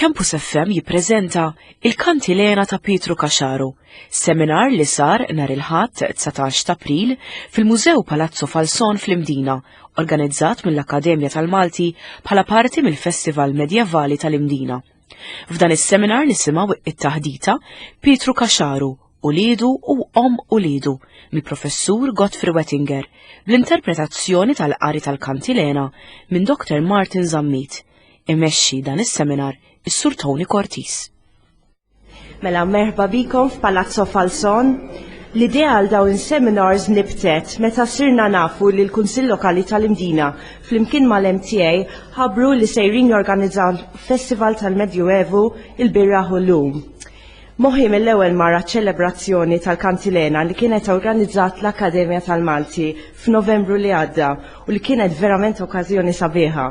Campus FM jippreżenta il-Kantilena ta' Pietru Kaxaru, seminar li sar nhar il-Ħadd 19 ta' April fil-Mużew Palazzo Falzon fl-Imdina, organizzat mill-Akkademja tal-Malti bħala parti mill-Festival Medjevali tal-Imdina. F'dan is-seminar nisimgħu it-taħdita Pietru Kaxaru, ulidu u om ulidu mill-Professur Godfrey Wettinger bl-interpretazzjoni tal-qari tal-Kantilena minn Dr. Martin Zammit Imexxi dan is-seminar is-Sur Tony Cortis. Mela merħba bikom f'Palazzo Falson. L-idea għal dawn seminars nibtet meta sirna nafu li l-Kunsill Lokali tal-Imdina flimkien mal-MTA ħabru li sejrin jorganizzaw Festival tal-Medjuevu il-Birra Hullum. Moħħi mill-ewwel mara ċ-ċelebrazzjoni tal-Kantilena li kienet organizzat l-Akkademja tal-Malti f'Novembru li għadda u li kienet verament okkażjoni sabiħa.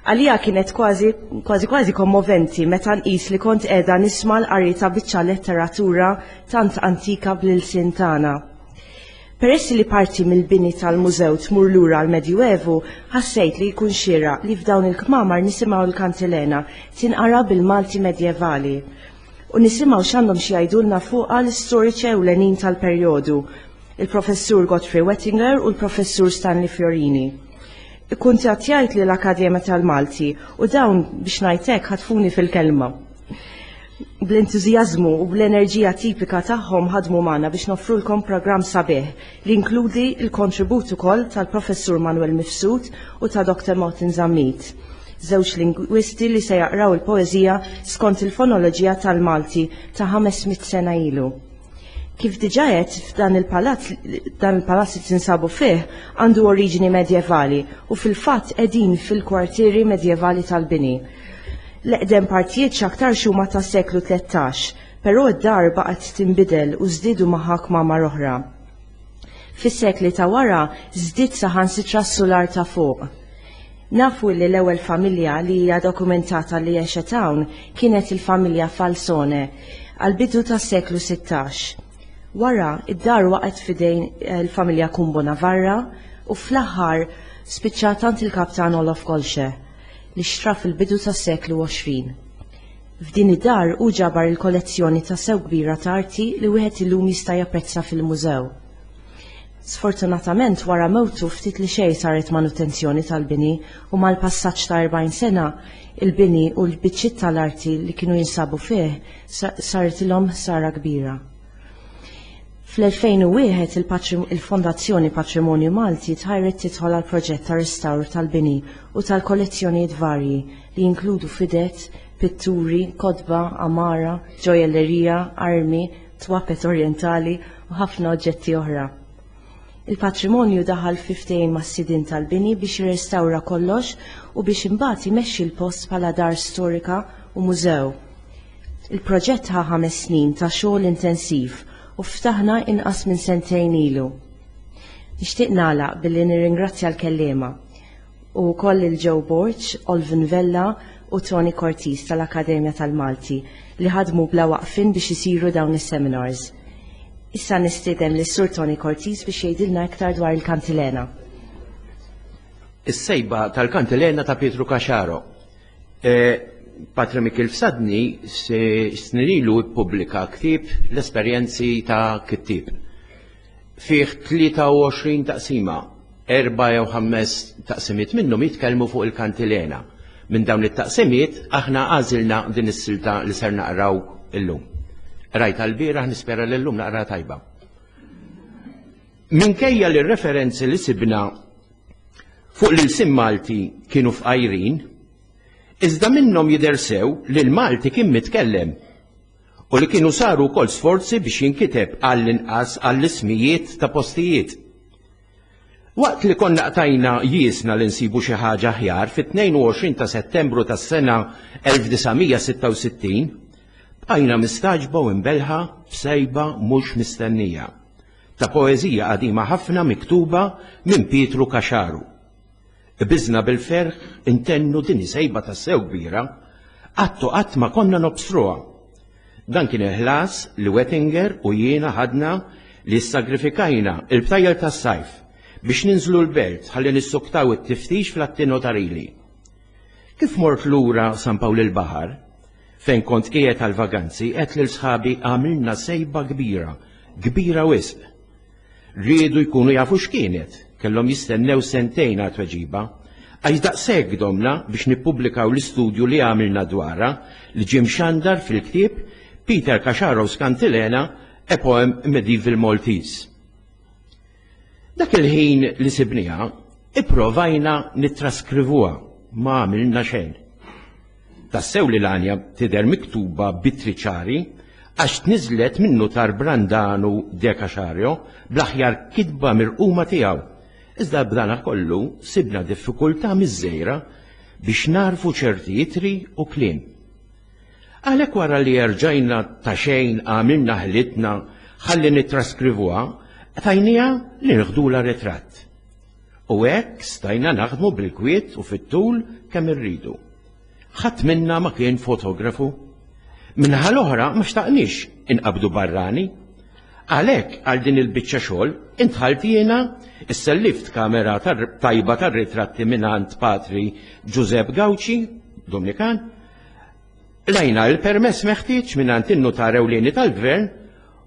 Għalija kienet kważi kważi kważi kommoventi meta nqis li kont qiegħda nisma' l-qari ta' biċċa letteratura tant antika bl-ilsien tagħna. Peress li parti mill-bini tal-mużew tmur lura l-Medjuevu, ħassejt li jkun xieraq li f'dawn il-kmamar nisimgħu l-Kantilena tinqara bil-Malti Medjevali. u nisimgħu x'għandhom xi jgħidulna fuqha l-istoriċi ewlenin tal-perjodu, il-Professur Godfrey Wettinger u l-Professur Stanley Fiorini. Ikkuntattjajt lil Akkademja tal-Malti u dawn biex ngħid hekk ħatfuni fil-kelma. Bl-entużjażmu u bl-enerġija tipika tagħhom ħadmu magħna biex noffrulkom programm sabiħ li inkludi l-kontribut ukoll tal-Professur Manuel Mifsud u ta' Dr. Martin Zammit, żewġ lingwisti li se jaqraw il-poeżija skont il-fonoloġija tal-Malti ta' 500 sena ilu. Kif diġà għedt, f'dan il-palazz dan il-palazz li tinsabu fih għandu oriġini medjevali u fil-fatt qegħdin fil-kwartieri medjevali tal-bini. L-eqdem partijiet x'aktarx huma tas-seklu 13, Però d-dar baqgħet tinbidel u żdiedu magħha kmamar oħra. Fis-sekli ta' wara żdied saħansitra s-sular ta' fuq. Nafu li l-ewwel familja li hija dokumentata li għexet hawn kienet il-familja Falsone għall-bidu tas-seklu sittax. Wara, id-dar waqgħet f'idejn il-familja Kumbo Navarra u fl-aħħar spiċċat għand il-kaptan Olof Kolche, li xtrah fil-bidu tas-seklu għoxrin. F'din id-dar hu ġabar il-kollezzjoni ta' sew kbira ta' arti li wieħed illum jista' japprezza fil-mużew. Sfortunatament wara mewtu ftit li xejn saret manutenzjoni tal-bini u mal-passaġġ ta' 40 sena il-bini u l-biċċiet tal-arti li kienu jinsabu fih saritilhom ħsara kbira. Fl-2001 il-Fondazzjoni Patrimonju Malti tħajret tidħol għal proġett ta' restawr tal-bini u tal-kollezzjonijiet varji li jinkludu fidet, pitturi, kotba, għamara, ġojellerija, armi, twapet orjentali u ħafna oġġetti oħra. Il-patrimonju daħal fi ftehim mas-sidien tal-bini biex jirrestawra kollox u biex imbagħad imexxi l-post bħala dar storika u mużew. Il-proġett ħa ħames snin ta' xogħol intensiv u ftaħna inqas minn sentejn ilu. Nixtieq nagħlaq billi nirringrazzja l-kelliema u wkoll lil Joe Borg, Olvin Vella u Tony Cortis tal-Akkademja tal-Malti li ħadmu bla waqfien biex isiru dawn is-seminars. Issa nistieden lis-Sur Tony Cortis biex jgħidilna iktar dwar il-Kantilena. Is-sejba tal-Kantilena ta' Pietru Caxaro. E, Patre Mikil Fsadni s-snirilu ippubblika ktib l-esperjenzi ta' kittib. fih 23 taqsima, erba' jew ħames taqsimiet minnhom jitkellmu fuq il-kantilena. Minn dawn it-taqsimiet aħna għażilna din is-silta li ser naqraw illum. Qrajtha l-bieraħ nispera li llum naqra tajba. Minkejja li r-referenzi li sibna fuq l-ilsien Malti kienu fqajrin, iżda minnhom jidher sew li l-Malti kien mitkellem. u li kienu saru wkoll sforzi biex jinkiteb għall-inqas għall-ismijiet ta' postijiet. Waqt li konna qtajna jiesna li nsibu xi ħaġa aħjar, fit-22 ta' Settembru tas-sena 1966 bqajna mistagħġba u imbelħa b'sejba mhux mistennija ta' poeżija qadima ħafna miktuba minn Pietru Caxaru. Qbiżna bil-ferħ intennu din hi sejba tassew kbira, qatt u qatt ma konna nobstruha. Dan kien il-ħlas li Wettinger u jiena ħadna li ssagrifikajna l-btajjel tas-sajf biex ninżlu l-belt ħalli nissuktaw it-tiftix fl-atti notarili. Kif mort lura San Pawl il-Baħar, fejn kont qiegħed għall-vaganzi għedt lil sħabi għamilna sejba kbira, kbira wisq. Riedu jkunu jafu x'kienet, kellhom jistennew sentejn għal tweġiba. Għax daqshekk domna biex nippubblikaw l-istudju li għamilna dwarha li ġie mxandar fil-ktieb Peter Casharos Cantilena, A Poem in Medieval Maltese. Dak il-ħin li sibniha, ipprovajna nittraskrivuha, ma għamilna xejn. Tassew li l-għanja tidher miktuba b'ittri ċari għax tniżlet min-nutar Brandanu de Casario bl-aħjar kitba mirquma tiegħu. Iżda b'dana kollu sibna diffikultà miżżejra biex nagħrfu ċerti ittri u kliem. Għalhekk wara li erġajna ta' xejn għamilna ħilitna ħalli nittraskrivuha, tajniha li nieħdulha ritratt. u hekk stajna naħdmu bil-kwiet u fit-tul kemm irridu. Ħadd minna ma kien fotografu. Minnaħa l-oħra ma xtaqniex inqabdu barrani. Għalhekk għal din il-biċċa xogħol intħalt jiena issellift kamera tajba tar-ritratti mingħand Patri Ġużepp Gawċi, Dominikan, lajna l-permess meħtieġ mingħand in-nutar ewlieni tal-gvern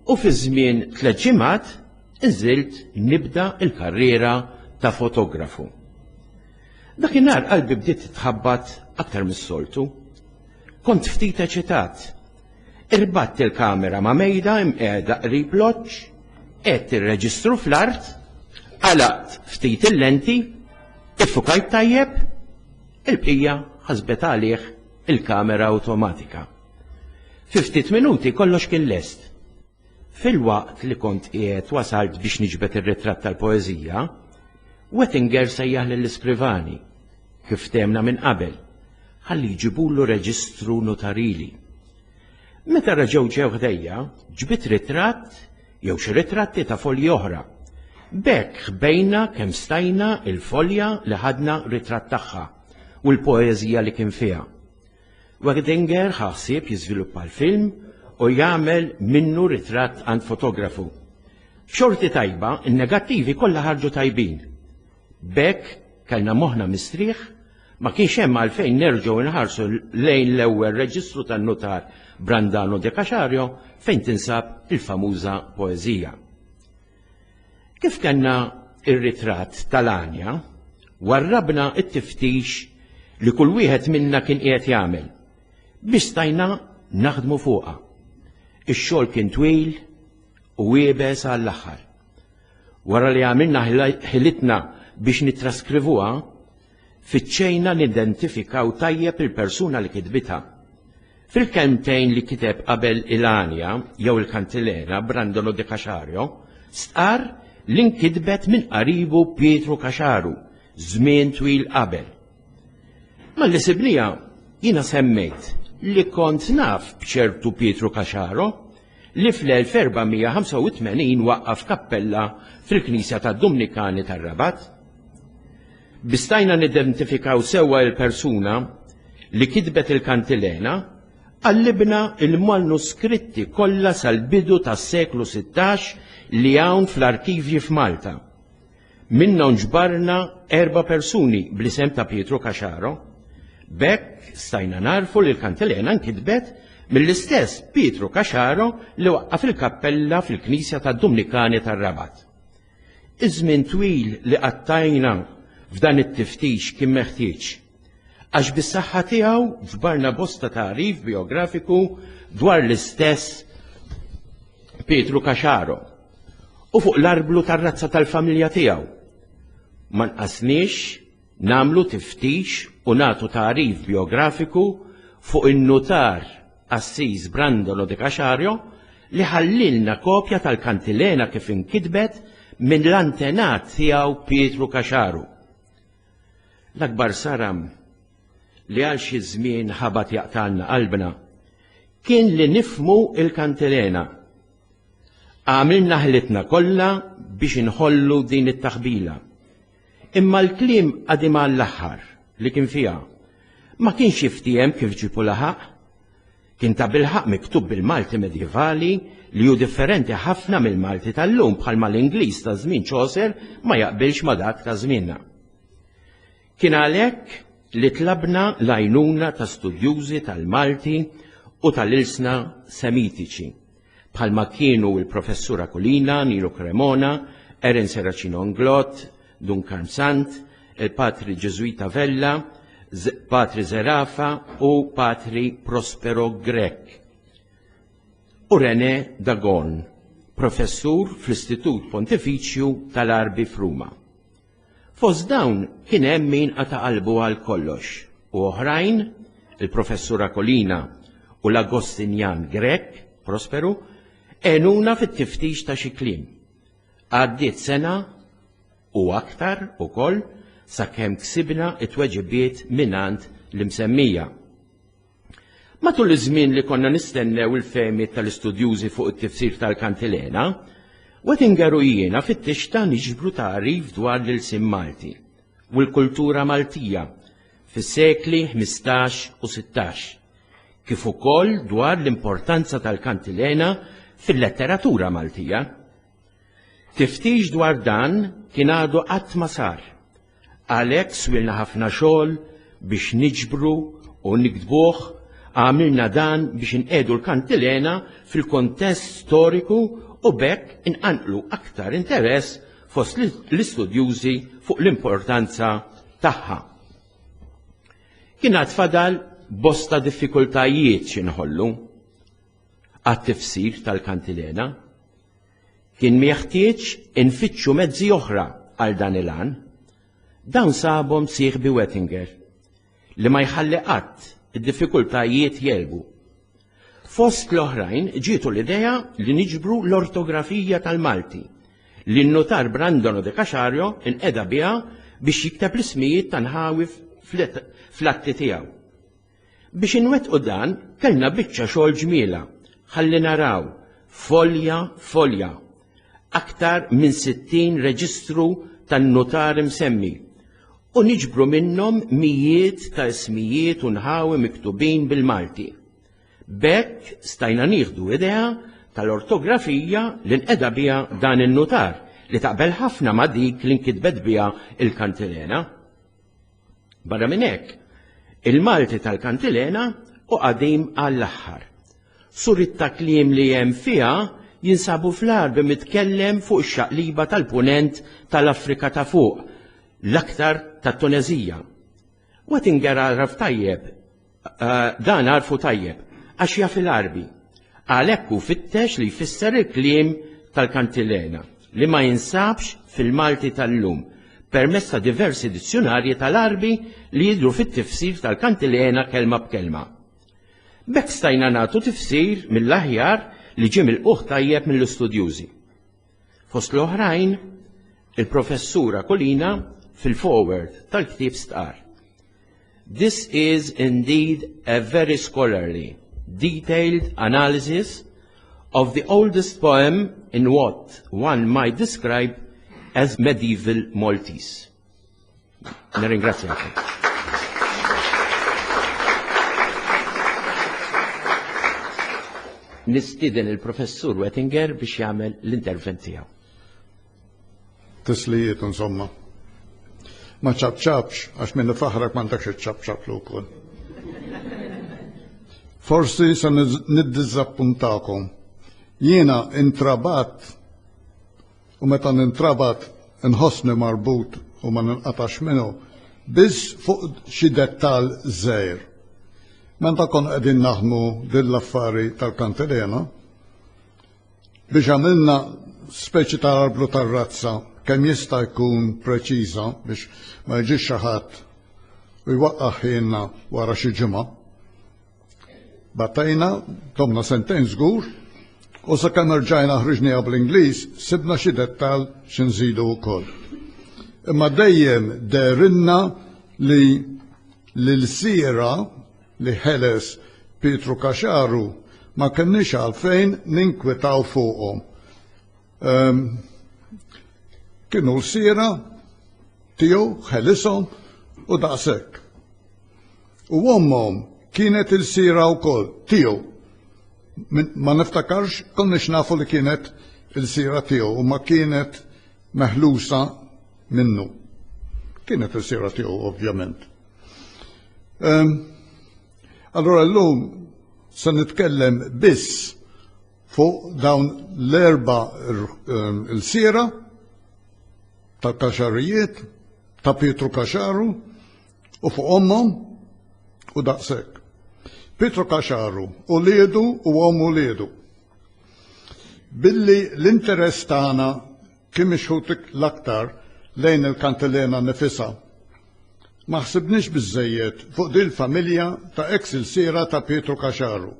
u fi żmien tliet ġimgħat Iżilt nibda l-karriera ta' fotografu. Dakinhar qalbi bdiet titħabbat aktar mis-soltu. Kont ftit eċitat. Irbatt il-kamera ma' mejda imqiegħda qrib loġġ, għedt ir-reġistru fl-art, għalaqt ftit il-lenti, iffukajt tajjeb, il-bqija ħasbet għalih il-kamera awtomatika. Fi ftit minuti kollox kien lest. Filwaqt li kont qiegħed wasalt biex niġbed ir-ritratt tal-poeżija, Wettinger sejjaħ lill-iskrivani, kif ftehemna minn qabel, ħalli jġibulu reġistru nutarili. Meta reġgħu ġew ħdejja, ġbidt ritratt jew xi ritratti ta' folji oħra. B'hekk ħbejna kemm stajna l-folja li ħadna ritratt tagħha u l-poeżija li kien fiha. Werdinger ħa ħsieb jiżviluppa l-film u jagħmel minnu ritratt għand fotografu. B'xorti tajba, in-negattivi kollha ħarġu tajbin. B'hekk kellna moħħna mistrieħ, ma kienx hemm għalfejn nerġgħu nħarsu lejn l-ewwel reġistru tan-nutar Brandano de Caxario fejn tinsab il-famuża poeżija. Kif kellna r-ritratt tal-għanja, warrabna t-tiftix li kull wieħed minna kien qiegħed jagħmel, biex stajna naħdmu fuqha. Ix-xogħol kien twil u iebes għall-aħħar. Wara li għamilna ħilitna biex nittraskrivuha, fittxejna nidentifikaw tajjeb il-persuna li kitbitha. Fil-kelmtejn li kiteb qabel il-għanja jew il-kantilena Brandolo de Caxario stqarr li nkitbet minn qaribu Pietru Caxaru żmien twil qabel. Malli sibniha, jiena semmejt li kont naf b'ċertu Pietru Caxaro li fl-1485 waqqaf kappella fil-knisja tad-Dumnikani tar-Rabat. Bistajna nidentifikaw sewwa il-persuna li kitbet il-kantilena, qallibna il-manuskritti kollha sal-bidu tas-seklu 16 li hawn fl-arkivji f'Malta. Minnhom ġbarna erba' persuni bl-isem ta' Pietru Caxaro. B'hekk stajna nagħrfu li l-kantilena nkitbet mill-istess Pietru Caxaro li waqqaf il-kappella fil-knisja tad-Dumnikani tar-Rabat. Iż-żmien twil li qattajna f'dan it-tiftix kien meħtieġ, għax bis-saħħa tiegħu ġbarna bosta tagħrif bijografiku dwar l-istess Pietru Caxaro u fuq l-arblu tar-razza tal-familja tiegħu. Ma nqasniex nagħmlu tiftix u nagħtu tagħrif bijografiku fuq in-nutar Assis Brandolo de Caxario li ħallielna kopja tal-kantilena kif inkitbet minn l-antenat tiegħu Pietru Caxaru. L-akbar saram li għal xi żmien ħabat jaqtgħalna qalbna kien li nifhmu l-kantilena. Għamilna ħilitna kollha biex inħollu din it-taħbila. Imma l-kliem qadim għall-aħħar li kien fiha ma kienx jiftiehem kif ġiebu laħaq. Kien tabilħaqq miktub bil-Malti medjevali li hu differenti ħafna mill-Malti tal-lum bħalma l-Ingliż ta' żmien Chaucer ma jaqbilx ma' dak ta' żmienna. Kien għalhekk li tlabna l-għajnuna ta' studjużi tal-Malti u tal-ilsna Semitiċi. bħalma kienu il-Professur Aquilina, Nino Cremona, Aaron Serracino Inglott, Dun Karm Sant, il-Patri Ġeżwita Vella, Patri Zerafa u Patri Prospero Grech. U René Dagon, professur fl-Istitut Pontifiċju tal-Arbi f'Ruma. Fost dawn kien hemm min qata' qalbu għal kollox u oħrajn, il-Professur Akolina u l-Agostinjan Grech, Prosperu, għenuna fit-tiftix ta' xi kliem. Għaddiet sena u aktar ukoll sakemm ksibna t-tweġibiet mingħand l-imsemmija. Matul iż-żmien li konna nistennew il-fehmiet tal-istudjużi fuq it-tifsir tal-kantilena, Wettinger u jiena fittixta niġbru tagħrif dwar l-ilsien Malti u l-kultura Maltija fis-sekli 15 u 16, kif ukoll dwar l-importanza tal-kantilena fil-letteratura Maltija. Tiftix dwar dan kien għadu qatt ma sar. Għalhekk swielna ħafna xogħol biex niġbru u niktbuh għamilna dan biex inqiegħdu l-kantilena fil-kuntest storiku u b'hekk inqanqlu aktar interess fost l-istudjużi fuq l-importanza tagħha. Kien għad fadal bosta diffikultajiet xi nħollu. għat-tifsir tal-kantilena, kien meħtieġ infittxu mezzi oħra għal dan il-għan. Dawn sabhom sieħbi Wettinger, li ma jħalli qatt id-diffikultajiet jelbu. Fost l-oħrajn ġietu l-idea li niġbru l-ortografija tal-Malti, li n-notar Brandono de Casario inqeda biha biex jikteb l-ismijiet ta' nħawif fl-atti tiegħu. Biex inwettqu dan kellna biċċa xogħol ġmielha, ħalli naraw, folja folja, aktar minn 60 reġistru tan-nutari msemmi u niġbru minnhom mijiet ta' ismijiet u nħawi miktubin bil-Malti. B'hekk stajna nieħdu idea tal-ortografija li nqeda biha dan in-nutar li taqbel ħafna ma' dik li nkitbet biha l-kantilena. Barra minn hekk, il-Malti tal-kantilena u qadim għall-aħħar. Surit ta' kliem li hemm fiha jinsabu fl-Għarbi mitkellem fuq ix-xaqliba tal-Punent tal-Afrika ta' fuq, l-aktar tat-Tuneżija. Wettinger għaraf tajjeb Eh, dan għarfu tajjeb, għax jaf il-arbi. Għalhekk hu fittex li jfisser il-kliem tal-kantilena li ma jinsabx fil-Malti tal-lum permezz ta' diversi dizzjonarji tal-arbi li jidru fit-tifsir tal-kantilena kelma b'kelma. Bekk stajna nagħtu tifsir mill-aħjar li ġie mill tajjeb mill-istudjużi. Fost l-oħrajn, il-Professur Aquilina fil-forward tal-ktieb stqarr, This is indeed a very scholarly, detailed analysis of the oldest poem in what one might describe as medieval Maltese. Nirringrazzjakom. nistiden il-professur Wettinger biex jagħmel l-intervent tiegħu. Tislijiet insomma. Ma ċabċabx, għax minn faħrak ma ntakx ċabċab l wkoll. Forsi se niddiżappuntakom. Jiena intrabat u meta nintrabat inħossni marbut u ma ninqatax minnu, biss fuq xi dettall żgħir. Meta kon qegħdin naħdmu din l-affari tal-kantilena, biex għamilna speċi ta' arblu tar-razza kemm jista' jkun preċiża biex ma jiġix xi ħadd u jwaqqaħ ħinna wara xi ġimgħa. Batejna, domna sentejn żgur, u sakemm rġajna ħriġniha bl-Ingliż, sibna xi dettal xi nżidu wkoll. Imma dejjem derinna li l-siera li ħeles Pietru Kaxaru ma kenniex għalfejn ninkwitaw fuqhom. Um, kienu l-siera tiegħu ħelishom u daqshekk. U ommhom kienet il-sira wkoll tiegħu. Ma niftakarx konniex nafu li kienet il-sira tiegħu u ma kienet meħlusa minnu. Kienet il-sira tiegħu ovvjament. Ehm, allora llum se nitkellem biss fuq dawn l-erba ehm, il-sira ta' kaxarijiet ta' Pietru Kaxaru u fuq ommhom u daqshekk. Pietru Kaxaru, uliedu u omm uliedu. Billi l-interess tagħna kien mixħut l-aktar lejn il-kantilena nifisha. Ma ħsibniex biżżejjed fuq din il-familja ta' eks ilsiera ta' Pietru Kaxaru.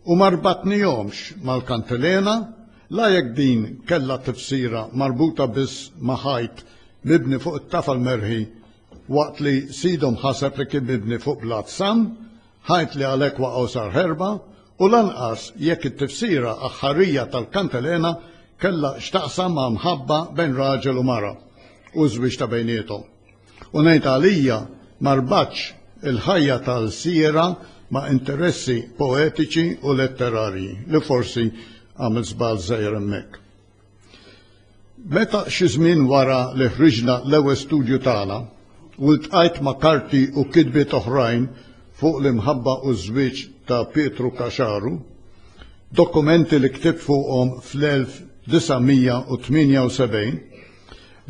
u ma rbatnihomx mal-kantilena, la jekk din kellha tifsira marbuta biss ma' ħajt mibni fuq it-tafal merħi waqt li sidhom ħaseb li kien mibni fuq blat sam, ħajt li għalhekk waqa' u sar ħerba, u lanqas jekk it-tifsira aħħarija tal-kantilena kellha x'taqsam ma' mħabba bejn raġel u mara u ż-żwieġ ta' bejniethom. U ngħid għalija ma rbatx il-ħajja ta' lsiera ma' interessi poetiċi u letterarji, li forsi għamilt żball żgħir hemmhekk. Meta xi żmien wara li ħriġna l-ewwel studju tagħna u ltqajt ma' karti u kitbiet oħrajn fuq l-imħabba u ż-żwieġ ta' Pietru Kaxaru, dokumenti li ktibt fuqhom fl-1978,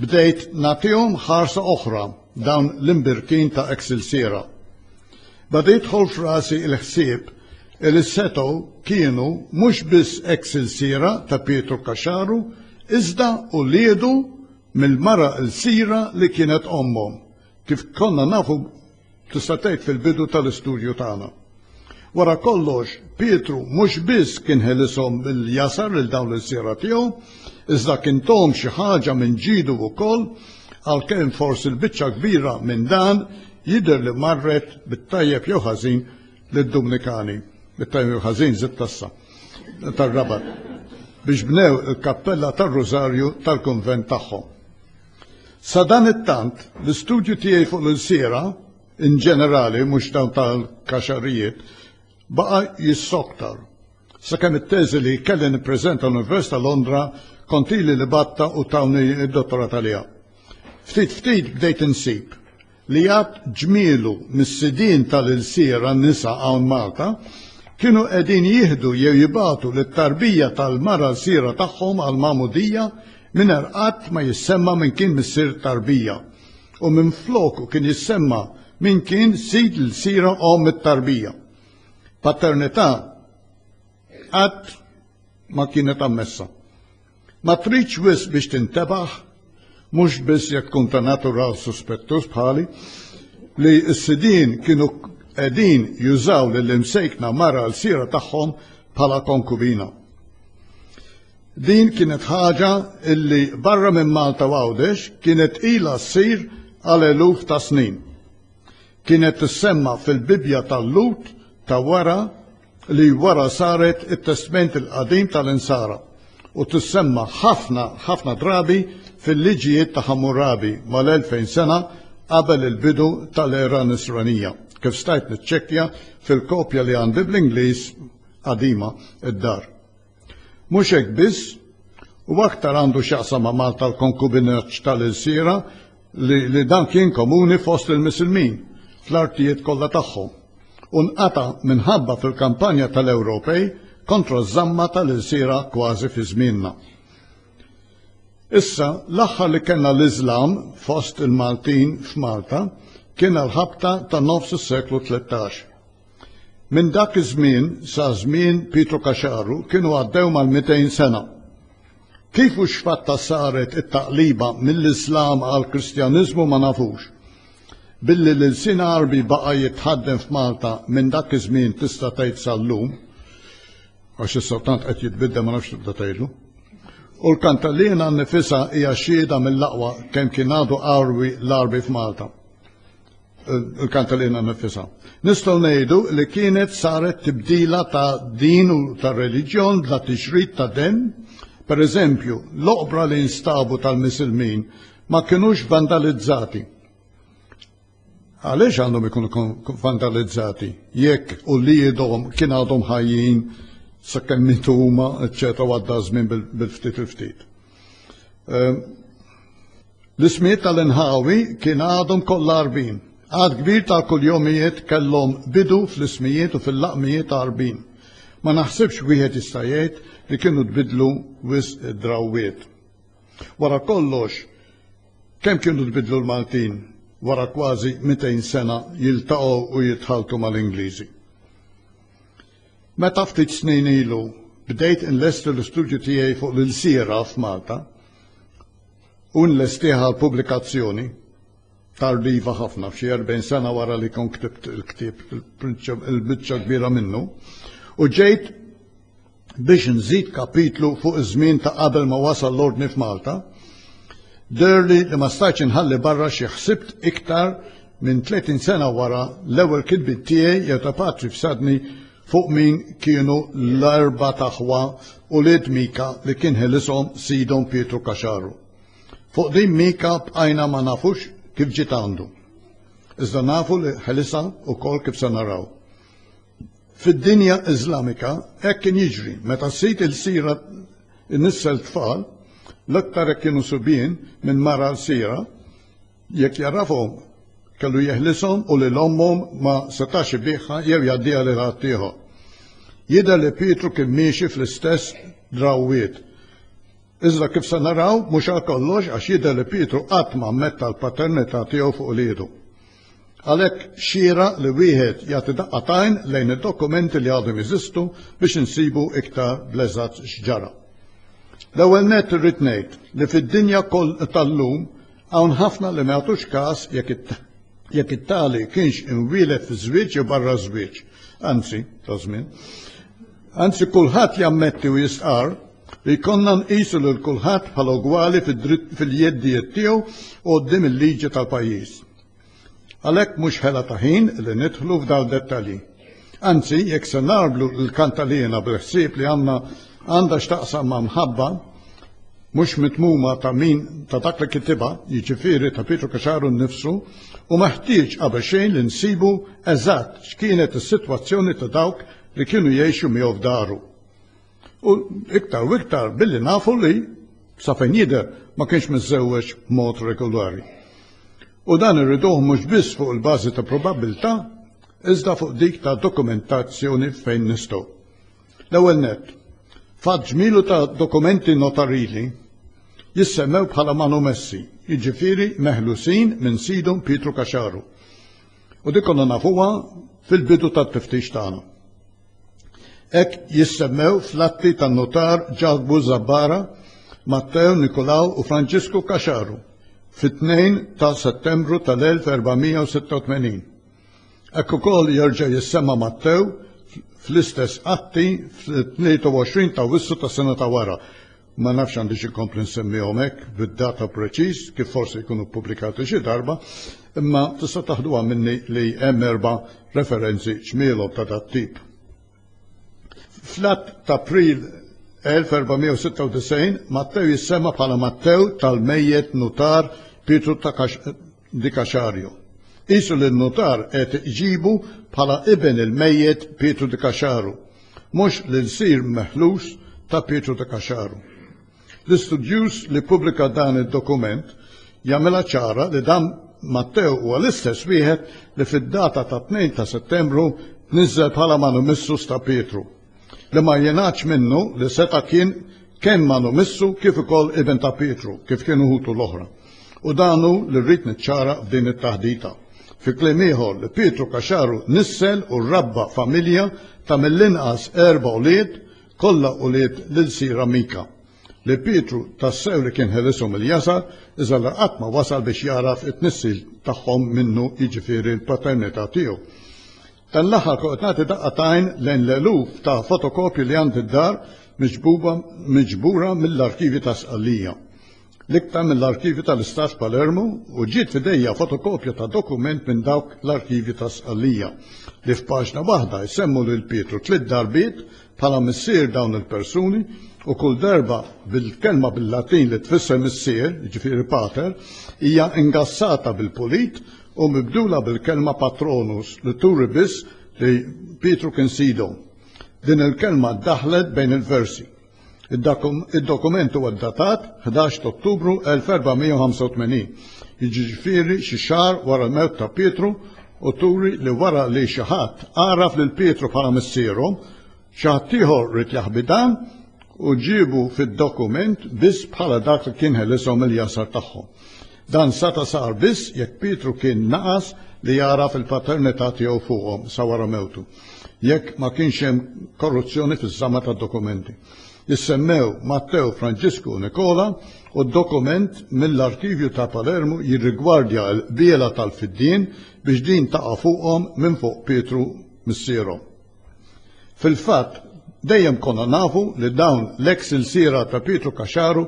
Bdejt nagħtihom ħarsa oħra dawn l-imbirkin ta' eks ilsiera. Bada jidħol f'rasi il-ħsieb li setgħu kienu mhux biss eks ilsiera ta' Pietru Kaxaru iżda uliedu mill-mara ilsira li kienet ommhom, kif konna nafu Tista' tgħid fil-bidu tal-istudju tagħna. Wara kollox, Pietru mhux biss kien ħelishom mill jasar lil dawn l-ilsiera tiegħu, iżda kien tohom xi ħaġa minn ġidu wkoll, għalkemm forsi l-biċċa kbira minn dan jidher li marret bit-tajjeb jew ħażin lid-Dumnikani, bit-tajjeb jew ħażin żitt tassa tar-Rabat, biex bnew il-kappella tar-Rużarju tal-kunvent tagħhom. Sadanittant, l-istudju tiegħi fuq l-ilsiera, in ġenerali, mhux dawn tal-kaxarrijiet, baqa' jissoktar. Sakemm it-teżi li kelli nippreżenta l-Università Londra kont ili li batta u tawni d-dottorat għaliha. Ftit ftit bdejt insib li għad ġmielu mis-sidien tal-ilsir għan-nisa hawn Malta kienu qegħdin jieħdu jew jibatu lit-tarbija tal-mara lsira tagħhom għal magħmudija mingħajr qatt ma jissemma minn kien missier tarbija u minn floku kien jissemma minn kien sid l-sira om it-tarbija. Paternità qatt ma kienet ammessa. Ma tridx wis biex tintebaħ, mhux biss jekk tkun ta' natura suspettus bħali, li s-sidin kienu qegħdin jużaw lill-imsejkna mara l-sira tagħhom bħala konkubina. Din kienet ħaġa illi barra minn Malta u Għawdex kienet ilha ssir għal eluf ta' snin. Kienet tissemma fil-Bibja tal-Lut ta' wara li wara saret it-testment il-qadim tal-Insara u tissemma ħafna ħafna drabi fil-liġijiet ta' Hammurabi mal-2000 sena qabel il-bidu tal-era Nisranija, kif stajt niċċekkja fil-kopja li għandi bl-Ingliż qadima d-dar. Mhux hekk biss, u aktar għandu x'jaqsam ma' Malta l-konkubinaġġ tal-ilsiera li, li dan kien komuni fost il-Misilmin fl-artijiet kollha tagħhom u nqata' minħabba fil-kampanja tal-Ewropej kontra ż-żamma tal-ilsiera kważi fi żmienna. Issa, l-aħħar li kellna l-Iżlam fost il-Maltin f'Malta kien għall-ħabta ta' nofs is-seklu 13. Minn dak iż-żmien sa żmien Pietru Caxaru kienu għaddew mal-200 sena. Kif u x'fatta saret it-taqliba mill-Islam għall-Kristjaniżmu ma nafux. Billi l-ilsien Għarbi baqa' jitħaddem f'Malta minn dak iż-żmien tista' tgħid sal-lum, għax issa tant qed jitbiddel ma nafx tibda tgħidlu. U l-Kantallina nnifisha hija xhieda mill-aqwa kemm kien għadu qarwi l-Għarbi f'Malta. il-kanta li jina nifisa. Nistaw nejdu li kienet saret tibdila ta' din u ta' religjon bla tixrit ta' den. Per eżempju, l-oqbra li instabu tal-misilmin ma kienux vandalizzati. Għaliex għandhom ikunu vandalizzati? Jekk u li jidhom kien għadhom ħajjin sakkemm mitu huma, eċċetera, għadda żmien bil-ftit il-ftit. Ehm, l-ismijiet tal-inħawi kien għadhom kollha arbin. Għad kbir ta' kull jomijiet kellhom bidu fl-ismijiet u fil-laqmijiet ta' arbin. Ma naħsibx wieħed jista' jgħid li kienu tbidlu wis drawiet. Wara kollox, kemm kienu tbidlu l-Maltin wara kważi 200 sena jiltaqgħu u jitħaltu mal-Ingliżi. Meta ftit snin ilu bdejt inlesti l-istudju tiegħi fuq l-ilsiera f'Malta u nlestih għal pubblikazzjoni tardiva ħafna f'xi 40 sena wara li kont ktibt il-ktieb il-biċċa kbira minnu u ġejt biex nżid kapitlu fuq iż-żmien ta' qabel ma wasal l-ordni f'Malta, derli li ma stajtx inħalli barra xi ħsibt iktar Minn 30 sena wara l-ewwel kitbiet tiegħi jew ta' patri f'sadni fuq min kienu l-erba taħwa u lied Mika li kien ħelishom sidhom Pietru Kaxaru. Fuq din Mika bqajna ma nafux kif ġiet għandu. Iżda nafu li ħelisa wkoll kif se naraw. Fid-dinja Iżlamika hekk kien jiġri meta sid il-sira nissel tfal l-aktar hekk kienu subien minn mara l-sira Jekk jagħrafhom, kellu jeħlishom u lil ommhom ma setax ibiegħha jew jgħaddiha lil ħaddieħor. Jidher li Pietru kien miexi fl-istess drawwiet. Iżda kif se naraw, mhux għal kollox għax jidher li Pietru qatt ma ammetta l-paternità tiegħu fuq uliedu. Għalhekk xira li wieħed jagħti daqqa tajn lejn id-dokumenti li għadhom jeżistu biex insibu iktar bl-eżatt x'ġara. L-ewwel nett irrid ngħid li fid-dinja tal-lum Hawn ħafna li ma jagħtux każ jekk it-tali kienx imwieled fiż-żwieġ jew barra ż-żwieġ, anzi, ta' żmien. Anzi kulħadd jammetti u jistqarr li jkollna nqisu lil kulħadd bħala ugwali fil-jeddijiet tiegħu u quddiem il-liġi tal-pajjiż. Għalhekk mhux ħela ta' ħin li nidħlu f'dawn id-dettalji. Anzi, jekk se nagħmlu l-kantaliena bil-ħsieb li għandna għandha x'taqsam ma' mħabba mhux mitmuma ta' min ta' dak li kitibha, jiġifieri ta' Pietru Kaxaru nnifsu, u meħtieġ qabel xejn li nsibu eżatt x'kienet is-sitwazzjoni ta' dawk li kienu jgħixu miegħu f'daru. U iktar u iktar billi nafu li sa fejn jidher ma kienx miżżewweġ b'mod regolari. U dan irriduh mhux biss fuq il-bażi ta' probabbiltà, iżda fuq dik ta' dokumentazzjoni fejn nistgħu. L-ewwel nett, fatt ġmielu ta' dokumenti notarili jissemmew bħala manumessi, jiġifieri meħlusin minn sidhom Pietru Kaxaru. U dik konna nafuha fil-bidu tat-tiftix tagħna. Hekk jissemmew fl-atti tan-notar Ġakbu Zabbara, Matteo Nikolaw u Franġisku Kaxaru fit-2 ta' Settembru tal-1486. Hekk ukoll jerġa' jissemma Mattew fl-istess atti fl-23 ta' Wissu tas-sena ta' wara Ma nafx għandix inkompli nsemmihom hekk bid-data preċiż kif forsi jkunu ppubblikati xi darba, imma tista' taħduha minni li hemm erba' referenzi ċmielhom ta' dat-tip. Fl-Att t'April 1496 Mattew jissemma bħala Mattew tal-mejjet nutar Pietru ta' Di Caxario. Qisu li n-nutar qed iġibu bħala iben il-mejjet Pietru Di Caxaru, mhux l-ilsir meħlus ta' Pietru Di Caxaru. L-istudjuż li ppubblika dan id-dokument jagħmilha ċara li dan Matteo huwa l-istess wieħed li fid-data tat-tnejn ta' Settembru tniżżel bħala manumissus ta' Pietru. Li ma jingħadx minnu li seta' kien kemm manu missu kif ukoll ibn ta' Pietru kif kienu ħutu l-oħra. U dan hu li rrid niċċara f'din it-taħdita. Fi kliem ieħor li Pietru Caxaru nissel u rabba familja ta' mill-inqas erba' ulied, kollha ulied l-ilsira Mika. Li Pietru tassew li kien ħelishom il-jasar iżda li qatt ma wasal biex jagħraf it-tnissil tagħhom minnu jiġifieri l-paternità tiegħu. Dan l-aħħar kont qed nagħti daqqa ta' għajn lejn l-eluf ta' fotokopji li għandi d-dar miġbuba miġbura mill-arkivji ta' Sqallija, l-iktar mill-arkivju tal-Istat f'Palermu u ġiet f'idejja fotokopja ta' dokument minn dawk l-arkivji ta' Sqallija li f'paġna waħda jsemmu lil Pietru tliet darbiet bħala missier dawn il-persuni u kull darba bil-kelma bil-Latin li tfisser missier, jiġifieri pater, hija ingassata bil-pulit u mibdula bil-kelma patronus li turi biss li Pietru kien sidhom. Din il-kelma daħlet bejn il-versi. Id-dokument huwa ddatat 11 t'Ottubru 1485, jiġifieri xi xahar wara l-mewt ta' Pietru u turi li wara li xi ħadd għaraf lil Pietru bħala missieru, xi ħadd ieħor ried jaħbi dan u ġiebu fid-dokument biss bħala dak li kien ħelishom il-jasar tagħhom. Dan seta' sar biss jekk Pietru kien naqas li jagħraf il-paternità tiegħu fuqhom sa wara mewtu, jekk ma kienx hemm korruzzjoni fiż-żama tad-dokumenti. li semmew Matteo Franġisku u Nikola u d-dokument mill-arkivju ta' Palermu jirrigwardja l-qbiela tal-fiddien biex din taqa' fuqhom minn fuq Pietru missierhom. Fil-fatt, dejjem konna nafu li dawn l-eks ilsiera ta' Pietru Caxaru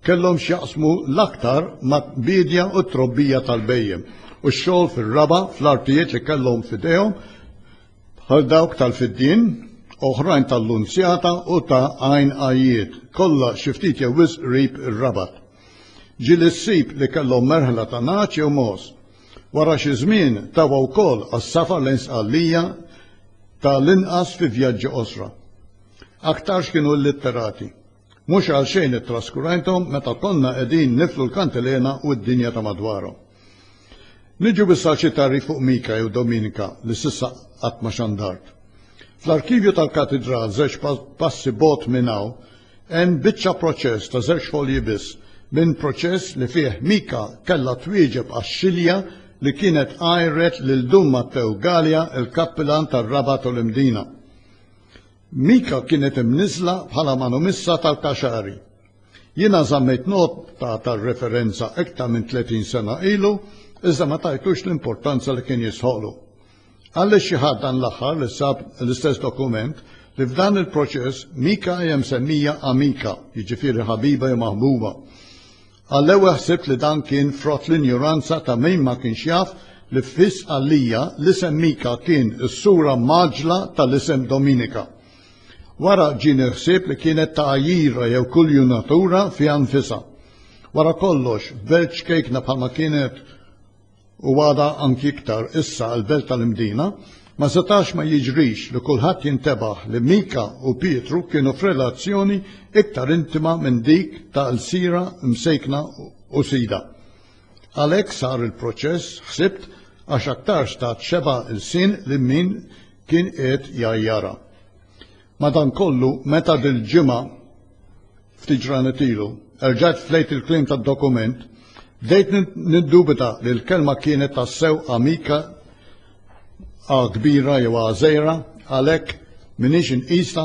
kellhom x'jaqsmu l-aktar mal-biedja u t-trobbija tal-bhejjem u x-xogħol fir-raba' fl-artijiet li kellhom f'idejhom bħal dawk tal-fiddien, oħrajn tal-lunzjata u ta' għajn għajjiet, kollha xi ftit jew wisq qrib ir-Rabat. Ġili ssib li kellhom merħla ta' nagħaġ jew mogħoż. Wara xi żmien tawa wkoll għas-safar lejn Sqallija ta' l-inqas fi vjaġġi qosra. Aktarx kienu illitterati. Mhux għalxejn ittraskurajthom meta konna qegħdin niflu l-kantilena u d-dinja ta' madwarhom. Niġu issa għal xi tagħrif fuq Mika jew Dominika li s'issa qatt ma xandart. Fl-arkivju tal-katidral żewġ passi bogħod minn hawn hemm biċċa proċess ta' żewġ folji biss minn proċess li fih Mika kellha twieġeb għax-xilja li kienet għajret lil Dun Mattew Galea il-kappilan tar-Rabat u l-Imdina. Mika kienet imniżżla bħala manumissa tal-Kaxari. Jiena żammejt nota tar-referenza iktar minn 30 sena ilu iżda ma tajtux l-importanza li kien jistħoqlu. Għaliex xi ħadd dan l-aħħar li sab l-istess dokument li f'dan il-proċess Mika hija msemmija amika, jiġifieri ħabiba jew maħbuba. Għall-ewwel ħsibt li dan kien frott l-injuranza ta' min ma kienx jaf li fis għalija l-isem Mika kien is-sura maġla tal-isem Dominika. Wara ġieni ħsieb li kienet ta' għajjira jew kuljunatura fiha nfisha. Wara kollox, belt ċkejkna bħalma kienet u għadha anki iktar issa l-belt tal-Imdina, ma setax ma jiġrix li kulħadd jintebaħ li Mika u Pietru kienu f'relazzjoni iktar intima minn dik ta' lsiera msejkna u sida. Għalhekk sar il-proċess, ħsibt, għax aktarx tat xebgħa lsien lil min kien qiegħed jgħajjarha. Madankollu, meta dil-ġimgħa, ftit ġranet ilu, erġajt flejt il-kliem tad-dokument, bdejt niddubita li l-kelma kienet tassew amika A kbira jew A żgħira, għalhekk m'iniex inqisha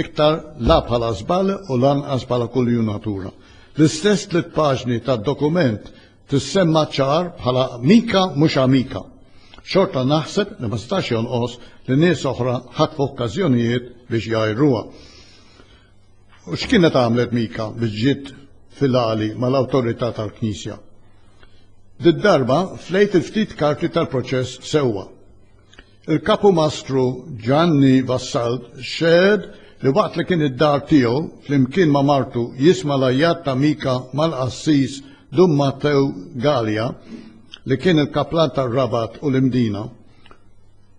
iktar la bħala żball u lanqas bħala kuljunatura. L-istess tliet paġni tad-dokument tissemma ċar bħala mika mhux amika. Xorta naħseb li ma setax jonqos li nies oħra ħatfu okkażjonijiet biex jgħajruha. U x'kienet għamlet Mika biex ġiet fil-għali mal-awtorità tal-Knisja? Did-darba flejt il-ftit karti tal-proċess sewwa. Il-kapumastru Ġanni Vassalt xehed li waqt li kien id-dar tiegħu flimkien ma' martu jisma' l-għajjat ta' Mika mal-qassis Dun Mattew Galea li kien il-kaplan tar-Rabat u l-Imdina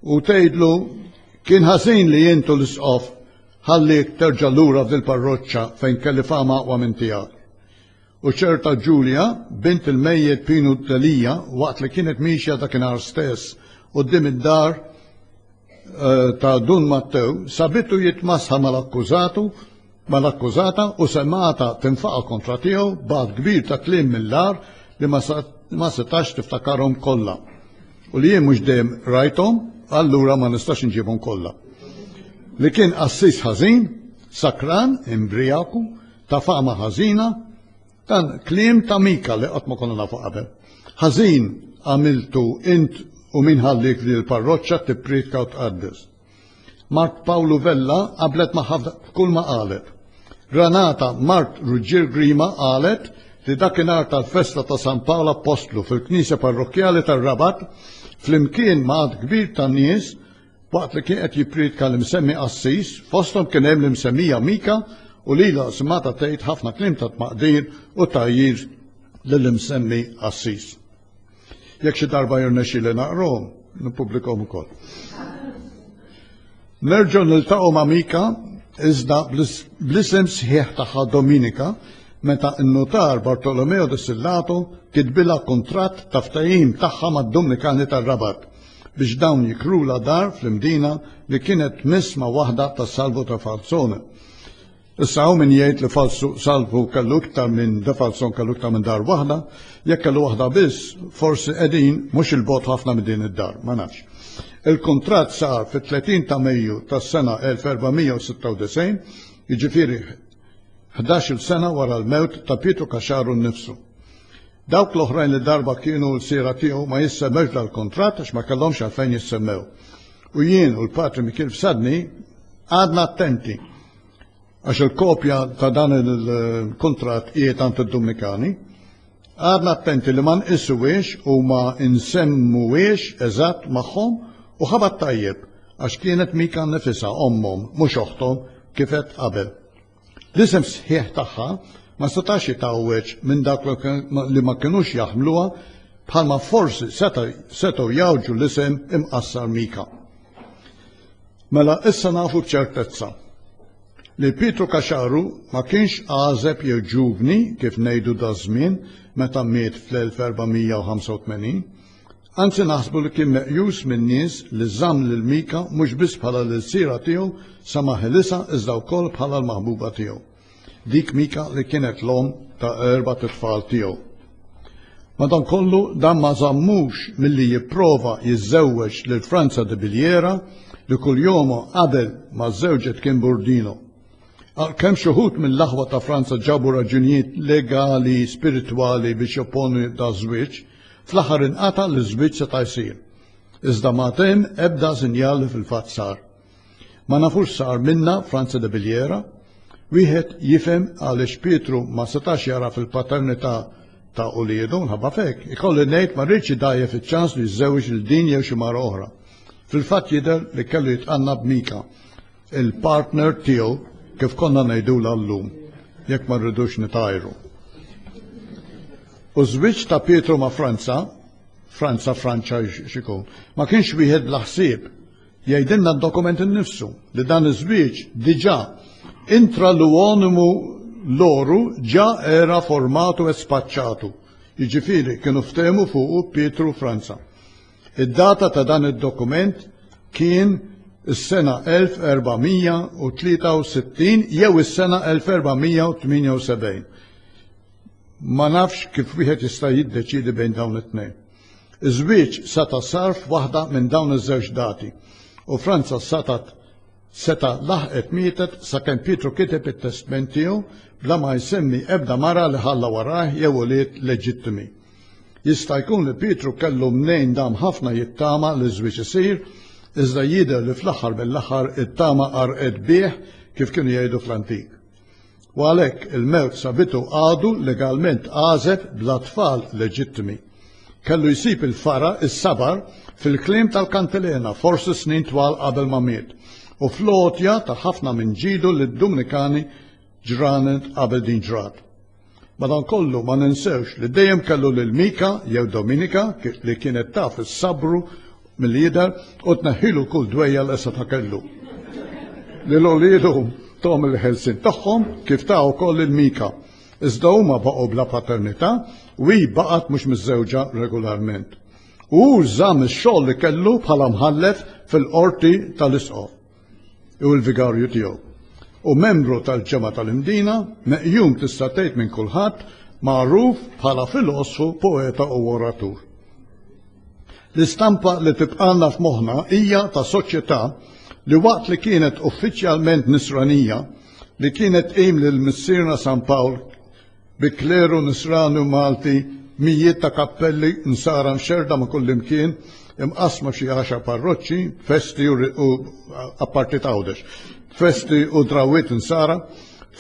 u tgħidlu kien ħażin li intu l-isqof Ħalliek terġa' lura f'dil-parroċċa fejn kelli fama aqwa minn tiegħek. U ċerta Ġulja, bint il-mejjet Pinu Delia, waqt li kienet miexja dakinhar stess quddiem id-dar eh, ta' Dun Mattew, sabitu jitmasħa mal-akkużatu mal-akkużata u semata tinfaqa kontra tiegħu b'għad kbir ta' kliem mill-ar li ma setax tiftakarhom kollha. u li jien mhux dejjem rajthom, allura ma nistax inġibhom kollha, li kien qassis ħażin, sakran, imbrijaku, ta' fama ħażina, dan kliem ta' Mika li qatt ma konna nafu qabel. Ħażin għamiltu int u min ħallik li l-parroċċa tippriedka u tqaddes. Mart Pawlu Vella qablet magħha f'kull ma qalet. Granata Mart Ruġġier Grima qalet li dakinhar tal-festa ta' San Pawl Appostlu fil-Knisja Parrokkjali tar-Rabat flimkien ma' għadd kbir ta' nies waqt li kien qed jippriedka l-imsemmi qassis fosthom kien hemm l-imsemmija Mika u lilha simgħatha tgħid ħafna kliem ta' tmaqdir u tgħajjir lill-imsemmi qassis. Jekk xi darba jirnexxili naqrom, nippubblikom ukoll. Nerġgħu niltaqgħu ma' Mika iżda bl-isem sħiħ tagħha Dominika meta n-nutar Bartolomeo de Sillato kitbilha kuntratt ta' ftehim tagħha mad-Dumnikani tar-Rabat biex dawn jikrula dar fl-imdina li kienet tmiss ma' waħda tas-Salvo ta' Falzone. Issa hawn min jgħid li falsu salvu kellu iktar minn de falson kellu iktar minn dar waħda, jekk kellu waħda biss, forsi qegħdin mhux il-bogħod ħafna minn din id-dar, ma nafx. Il-kuntratt sar fit-30 ta' Mejju tas-sena 1496, jiġifieri ħdax-il sena wara l-mewt ta' Pietru Kaxxaru nnifsu. Dawk l-oħrajn li darba kienu l-siera tiegħu ma jissemmewx dal-kuntratt għax ma kellhomx għalfejn jissemmew. U jien u l-patri Mikil Fsadni għadna attenti għax il-kopja ta' dan il-kuntratt qiegħed għand id-Dumnikani, għadna attenti li ma nqisuhiex u ma nsemmuhiex eżatt magħhom u ħabat tajjeb għax kienet Mika nifisha ommhom mhux oħthom kif għedt qabel. L-isem sħiħ tagħha ma setax jitgħawweġ minn dak li ma kinux jaħmluha bħalma forsi setgħu jgħawġu l-isem imqassar Mika. Mela issa nafu b'ċertezza li Pietru Kaxaru ma kienx għażeb jew ġuvni kif ngħidu daż-żmien meta miet fl-1485, anzi naħsbu li kien meqjus min-nies li żamm lil Mika mhux biss bħala l-ilsiera tiegħu sa ma ħelisha iżda wkoll bħala l-maħbuba tiegħu. Dik Mika li kienet l-omm ta' erba' tfal tiegħu. Madankollu dan ma żammux milli jipprova jiżżewweġ lil Franza de Biljera li kull jomu qabel ma żewġet kien burdino. Għalkemm xi wħud mill-aħwa ta' Franza ġabu raġunijiet legali spiritwali biex jopponu da' żwieġ, fl-aħħar inqata' li żwieġ seta' jsir. Iżda ma temm ebda sinjal li fil-fatt sar. Ma nafux sar minna Franza de Biljera, wieħed jifhem għaliex Pietru ma setax jara fil-paternità ta' uliedu nħabba fek, ikolli ngħid ma rridx idajjef iċ-ċans li jżewġ lil din jew xi mara oħra. Fil-fatt jidher li kellu jitqanna b'Mika, il-partner tiegħu kif konna ngħidula llum, jekk ma rridux nitajru. U żwieġ ta' Pietru ma' Franza, Franza Franċa xikun, ma kienx wieħed bla ħsieb Jgħidilna d-dokument innifsu li dan iż-żwieġ diġà intra l-uonimu loru ġa era formatu e spaċċatu, jiġifieri kienu ftehmu fuqu Pietru u Franza. Id-data ta' dan id-dokument kien is-sena 1463 jew is-sena 1478. Ma nafx kif wieħed jista' jiddeċiedi bejn dawn it-tnejn. Iż-żwieġ seta' sar f'waħda minn dawn iż-żewġ dati u Franza setgħet seta' laħqet mietet sakemm Pietru kiteb it-testment tiegħu bla ma jsemmi ebda mara li ħalla warajh jew ulied leġittimi. Jista' jkun li Pietru kellu mnejn dam ħafna jittama li ż-żwieġ isir, iżda jidher li fl-aħħar mill-aħħar it-tama qarqet bih kif kienu jgħidu fl-antik. u għalhekk il-mewt sa bidu għadu legalment għażeb bla tfal leġittimi. Kellu jsib il-fara, is-sabar, fil-kliem tal-kantilena forsi snin twal qabel ma miet u fl-għotja ta' ħafna minn ġidu lid-Dumnikani ġranet qabel din ġrat. Madankollu, ma ninsewx li dejjem kellu lil Mika jew Dominika li kienet taf is-sabru milli jidher u tneħħilu kull dwejja li seta' kellu. Lil ulidu tahom il-ħelsien tagħhom kif ta wkoll lil Mika, iżda huma baqgħu bla paternità u hi baqgħet mhux miżżewġa regolarment. U hu żamm ix-xogħol li kellu bħala mħallef fil-Qorti tal-Isqof. hu l-vigarju tiegħu. Hu membru tal-Ġemgħa tal-Imdina, meqjum tista' tgħid minn kulħadd, magħruf bħala filosfu, poeta u oratur. L-istampa li tibqalna f'moħħna hija ta' soċjetà li waqt li kienet uffiċjalment Nisranija li kienet qim lil Missierna San Pawl bi kleru Nisrani u Malti, mijiet ta' kappelli Nsara mxerrda ma' kullimkien, imqassma f'xi għaxar parroċċi, festi u apparti t'Għawdex, festi u drawwiet Nsara,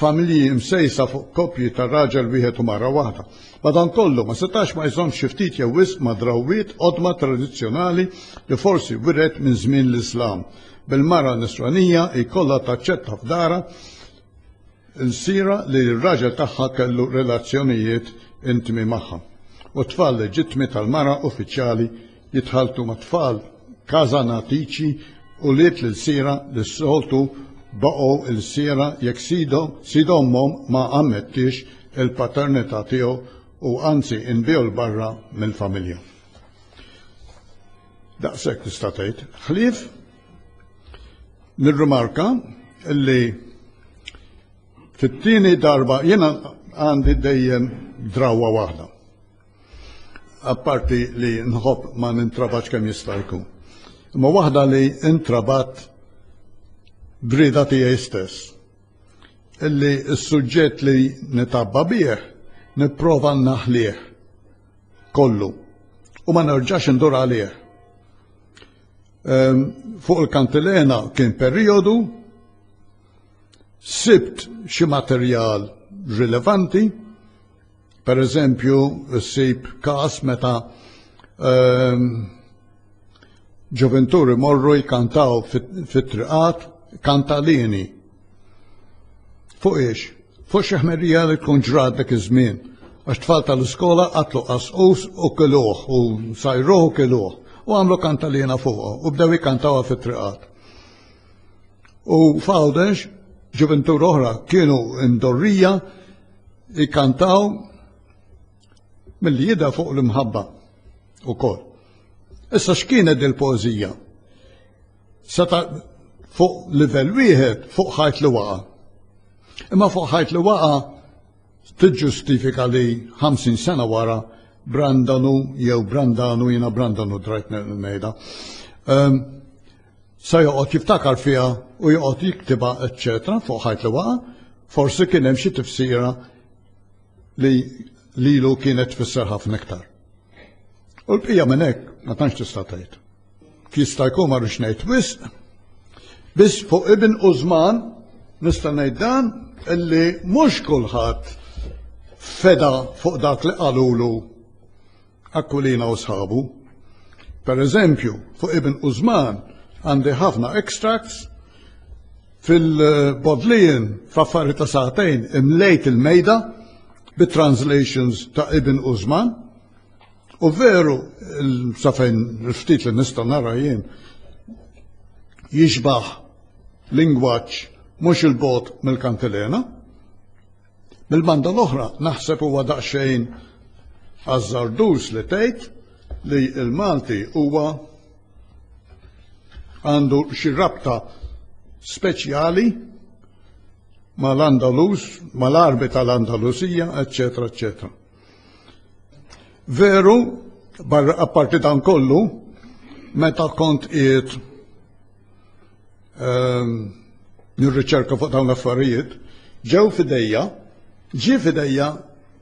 familji msejsa fuq koppji ta' raġel wieħed u mara waħda. Madankollu, ma setax ma jżommx xi ftit jew wisq ma' drawwiet qodma tradizzjonali li forsi wiret minn żmien l-Islam, bil-mara Nisranija jkollha taċċetta f'darha ilsira li r-raġel tagħha kellu relazzjonijiet intmi magħha, u t-tfal leġittmi tal-mara uffiċjali jitħalltu ma' tfal Casanatici, ulied l-ilsira li s-soltu baqgħu ilsiera jekk sidhom, sid ommhom ma ammettiex il-paternità tiegħu u anzi inbiegħu 'l barra mill-familja. Daqshekk tista' tgħid. Ħlief Nirrimarka li fit-tieni darba jiena għandi dejjem drawa waħda. Apparti li nħobb ma nintrabax kemm jista' jkun. Imma waħda li intrabat brida tiegħi stess. Illi s-suġġett li nitabba bih nipprova naħlih kollu u ma nerġax indur għalih. Ehm, fuq il-kantilena kien periodu, sibt xi materjal rilevanti, per eżempju, sib kas meta ehm, ġoventuri morru jkantaw fit-triqat kantalini Fuq ix? Fuq xi ħmerrija li tkun ġrat dak iż-żmien. Għax tfal tal-iskola qatlu qasqus u kiluh u sajruh u kiluh u għamlu kantalina fuqha u bdew jikantawha fit-triqat. U f'Għawdex ġuventur oħra kienu imdorrija jikkantaw mill-li jidha fuq l-imħabba u kol. Issa x'kienet il-poezija? Seta' fuq livell wieħed fuq ħajt li waqa'. Imma fuq ħajt li waqa' tiġġustifika li 50 sena wara Brandanu jew Brandanu jiena Brandanu drajt ngħidha. Ehm, sa joqgħod jiftakar fiha u joqgħod jiktibha eċċetera fuq ħajt li waqa', forsi kien hemm xi tifsira li lilu kienet tfisser ħafna iktar. U l-bqija minn hekk ma tantx tista' tgħid. Jista' jkun ma rridx ngħid wisq, biss fuq Ibn Użman nista' ngħid dan illi mhux kulħadd feda fuq dak li qalulu Aquilina u sħabu. Per eżempju, fuq Ibn Użman għandi ħafna extracts fil-bodlijin f'affari ta' saħtejn imlejt il-mejda bit-translations ta' Ibn Użman U veru, safejn ftit li nista' nara jien, jixbaħ lingwaġġ mhux il-bot mill-kantilena. Mill-banda l-oħra naħseb huwa daqsxejn azzardus li tgħid li l-Malti huwa għandu xi rabta speċjali mal-Andalus, mal-arbi tal-Andalusija, eccetera, eccetera. Veru, barra apparti dan kollu, meta kont qiegħed ehm, nirriċerka fuq dawn l-affarijiet, ġew fidejja, ġie fidejja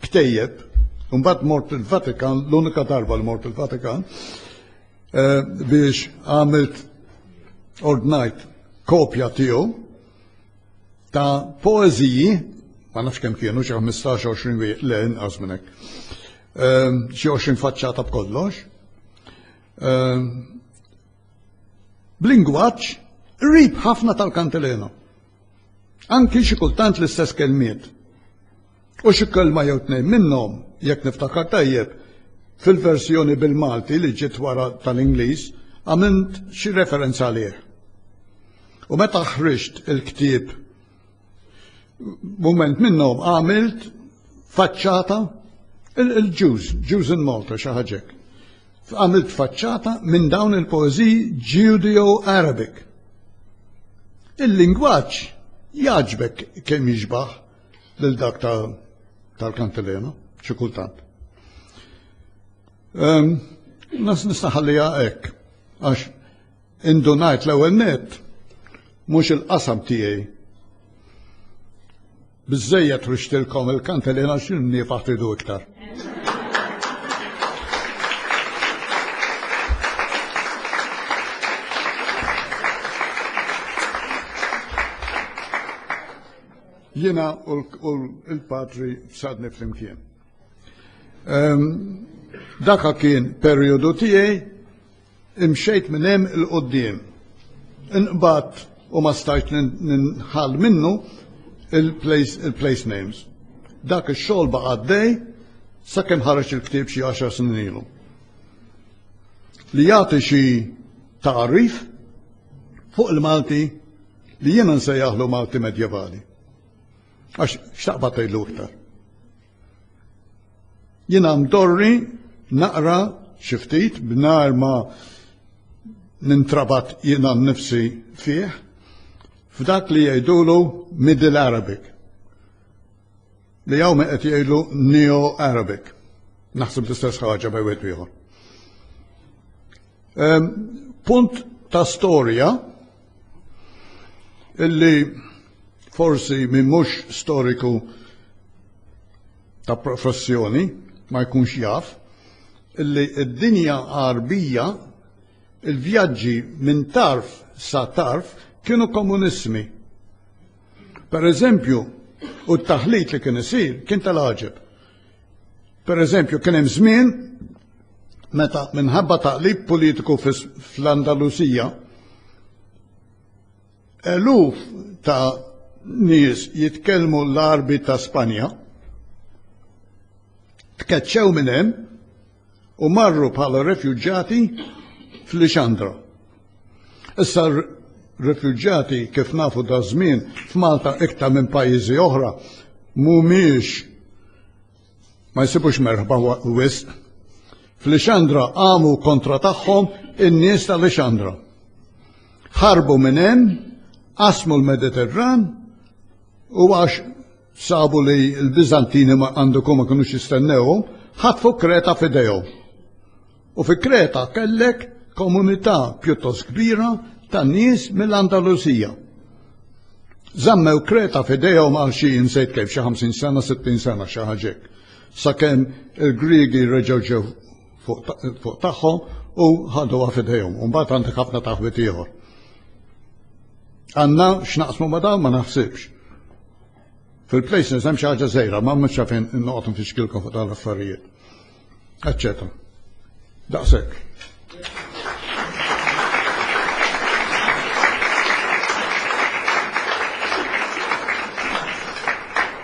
ktejjeb, mbagħad mort il-Vatikan, l-unika darba li mort il-Vatikan, eh, biex għamilt ordnajt kopja tiegħu ta' poeżiji, ma nafx kemm kienu xi 15-20 wieħed le inqas minn hekk. Ehm, xi 20 faċċata b'kollox. Ehm, b'lingwaġġ rib ħafna tal-Kantilena. Anki xi kultant l-istess kelmiet. U xi kelma jew tnejn minnhom, jekk niftakar tajjeb, fil-verżjoni bil-Malti li ġiet wara tal-Ingliż, għamilt xi referenza għalih. U meta ħriġt il-ktieb mument minnhom għamilt faċċata il-Jews, Jews in Malta xi ħaġek. Għamilt faċċata minn dawn il-poeżiji Judeo-Arabic. Il-lingwaġġ jaġbek kemm jiġbaħ lil dak tal-kantilena, xi kultant. Ehm, nas nistaħallija hekk għax indunajt l-ewwel net mhux il-qasam tiegħi. Biżejjed rixtilkom il-kantilena x'inni faħtidu iktar. Jiena u l-patri sadni flimkien. Ehm, daka kien perjodu tiegħi imxejt minn hemm il-qoddim. Inqbad u ma stajt ninħal minnu il-place names. Dak ix-xogħol baqa' għaddej sakemm ħareġ il-ktieb xi 10 snin ilu. Li jagħti xi tagħrif fuq il-Malti li jiena nsejjaħlu Malti Medjevali. Għax x'taqbad tgħidlu iktar. Jiena mdorri naqra xi ftit b'nar ma nintrabat jiena nnifsi fih f'dak li jgħidulu Middle Arabic li hawn qed jgħidu Neo Arabic. Naħseb l-istess ħaġa bej wieħed ieħor. Punt ta' storja illi forsi minn mhux storiku ta' professjoni ma jkunx jaf illi d-dinja għarbija il-vjaġġi minn tarf sa tarf kienu komunismi. Per eżempju, u t-taħlit li kien isir kien tal-għaġeb. Per eżempju, kien hemm żmien meta minħabba taqlib politiku fl-Andalusija eluf ta' nies jitkellmu l-arbi ta' Spanja tkeċċew minn hemm u marru bħala refuġġati f'Lixandra. Issa refuġġati kif nafu da żmien f'Malta iktar minn pajjiżi oħra mhumiex ma jsibux merħba wisq. F'Lixandra għamu kontra tagħhom in-nies ta' Lixandra. Ħarbu minn hemm, qasmu l-Mediterran u għax sabu li l-Biżantini ma għandhom ma kinux jistennewhom, ħatfu Kreta f'idejhom. U fi Kreta kellek komunità pjuttost kbira ta' nies mill-Andalusija. Zammew Kreta f'idejhom għal xi insejt kif xi 50 sena, 60 sena xi ħaġek. Sakemm il-Griegi reġgħu ġew fuq tagħhom u ħaduha f'idejhom. U mbagħad għandek ħafna taħwit ieħor. Għandna x'naqsmu ma dawn ma naħsibx. Fil-places hemm xi ħaġa żejra, ma mhux fejn noqgħod nfixkilkom fuq dawn l-affarijiet. Eċċetera. Daqshekk.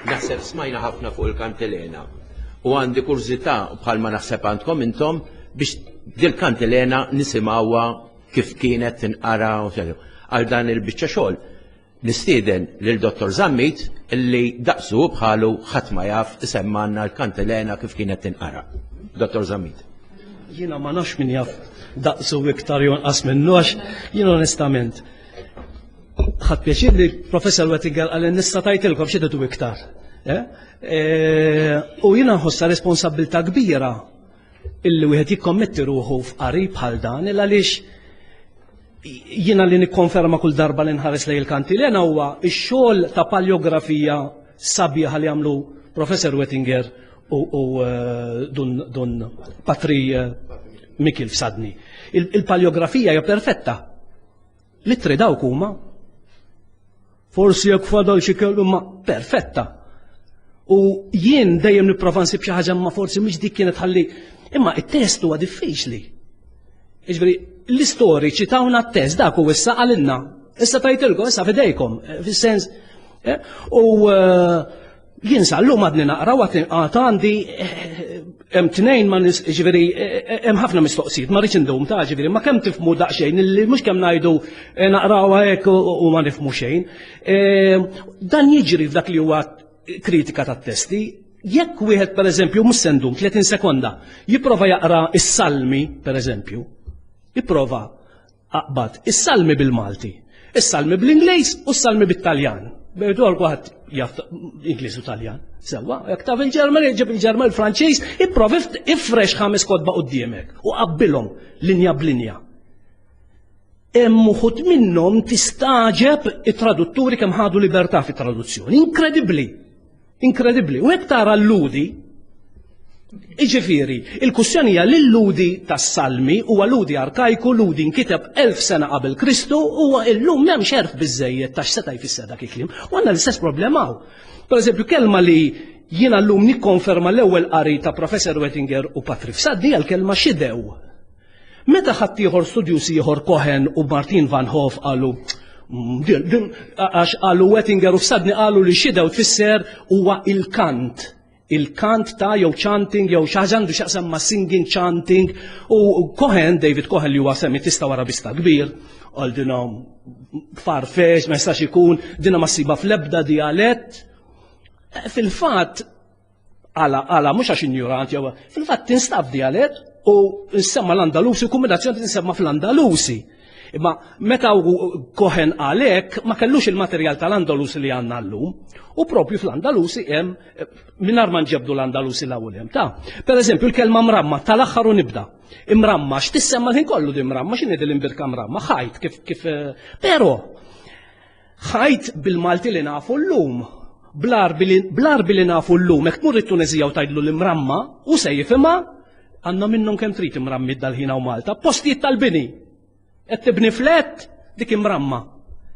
Naħseb smajna ħafna fuq il-kantilena. U għandi kurzita bħal ma naħseb għandkom intom biex dil-kantilena nisimawa kif kienet tinqara u għal dan il-bicċa xogħol. Nistieden lil Dottor Zammit li daqsu bħalu ħadd ma jaf isemmanna l-kantilena kif kienet tinqara. Dottor Zammit. Jiena ma nafx min jaf daqsu iktar jonqas minnu għax jien onestament ħadd pjaċir li professor Wettinger għal nista' tajtilkom xi iktar. Eh? Eh, u jiena nħossa responsabilità kbira illi wieħed jikkommetti ruħu f'qarib bħal dan il għaliex jiena li nikkonferma kull darba li nħares lej il-kanti li huwa x-xogħol ta' paleografija sabiħa li għamlu Professor Wettinger u eh, dun Patri eh, Mikil f'Sadni. Il-paleografija hija perfetta. L-ittri dawk huma forsi jekk fadal xi kellu ma perfetta. U jien dejjem nipprova nsib xi ħaġa ma forsi mhix dik kienet ħalli. Imma it-test huwa diffiċli. Iġbri, l-istoriċi tawna t-test dak u issa għalinna. Issa tajtilkom, issa fidejkom, eh, fis-sens. Eh, u eh, Jien sallum għadni naqra u għadni għata għandi hemm tnejn ma nis ġifieri hemm ħafna mistoqsijiet ma rridx indum ta' ġifieri ma kemm tifmu daqsxejn li mhux kemm ngħidu eh, naqrawha hekk u ma nifmu xejn. Eh, dan jiġri f'dak li huwa kritika tat-testi jekk wieħed pereżempju mhux sendum 30 sekonda jipprova jaqra is-salmi pereżempju, jipprova Aqbad is-salmi bil-Malti, is-salmi bl-Ingliż u s-salmi bit-Taljan. Bejdu għad jaf Ingliż u Taljan. Sewa, jek taf il-Ġerman, jġib il-Ġerman il-Franċiż, ipprovi ifrex ħames kodba qudiemek u qabbilhom linja b'linja. Hemm uħud minnhom tistaġeb it-tradutturi kemm ħadu libertà fit-traduzzjoni. Inkredibbli! Inkredibbli. U hekk tara l-ludi Iġifiri, il-kussjoni hija li l-ludi tas-salmi huwa ludi arkajku, ludi nkiteb elf sena qabel Kristu, huwa illum m'hemm xerf biżejjed ta' x'seta' jfisser dak il-kliem. U għandna l-istess problema hawn. Pereżempju, kelma li jiena llum nikkonferma l-ewwel qari ta' Professor Wettinger u Patrick Saddi għal kelma xidew. Meta ħaddieħor studjuż ieħor Cohen u Martin van Hove qalu għax qalu Wettinger u f'sadni qalu li xidew tfisser huwa il-kant il-kant ta' jew chanting jew xaġa għandu xaqsam ma' singing chanting u Cohen, David Cohen li huwa semitista u arabista kbir, għal dina farfex, ma jistax ikun, dina ma siba fl-ebda dialett. Fil-fatt, Għala, għala, mhux għax injurant jew fil-fatt tinstab dialett u nsemma l-Andalusi, kombinazzjoni tinsemma fl-Andalusi. Imma meta kohen għalek ma kellux il-materjal tal-Andalusi li għanna l-lum, u propju fl-Andalusi hemm minar ma nġebdu l-Andalusi l-ewwel hemm ta. Per eżempju l-kelma mramma tal-aħħar u nibda. Imramma x'tissemma l-ħin kollu di mramma x'inhi l-imbirka mramma ħajt kif kif eh, però Ħajt bil-Malti li nafu llum, bl-Għarbi li nafu llum, hekk tmur it-Tuneżija u tgħidlu l-imramma, hu se jifhimha, għandna minnhom kemm trid imrammiet dal-ħin hawn Malta, postijiet tal-bini. Qed tibni flat, dik imramma.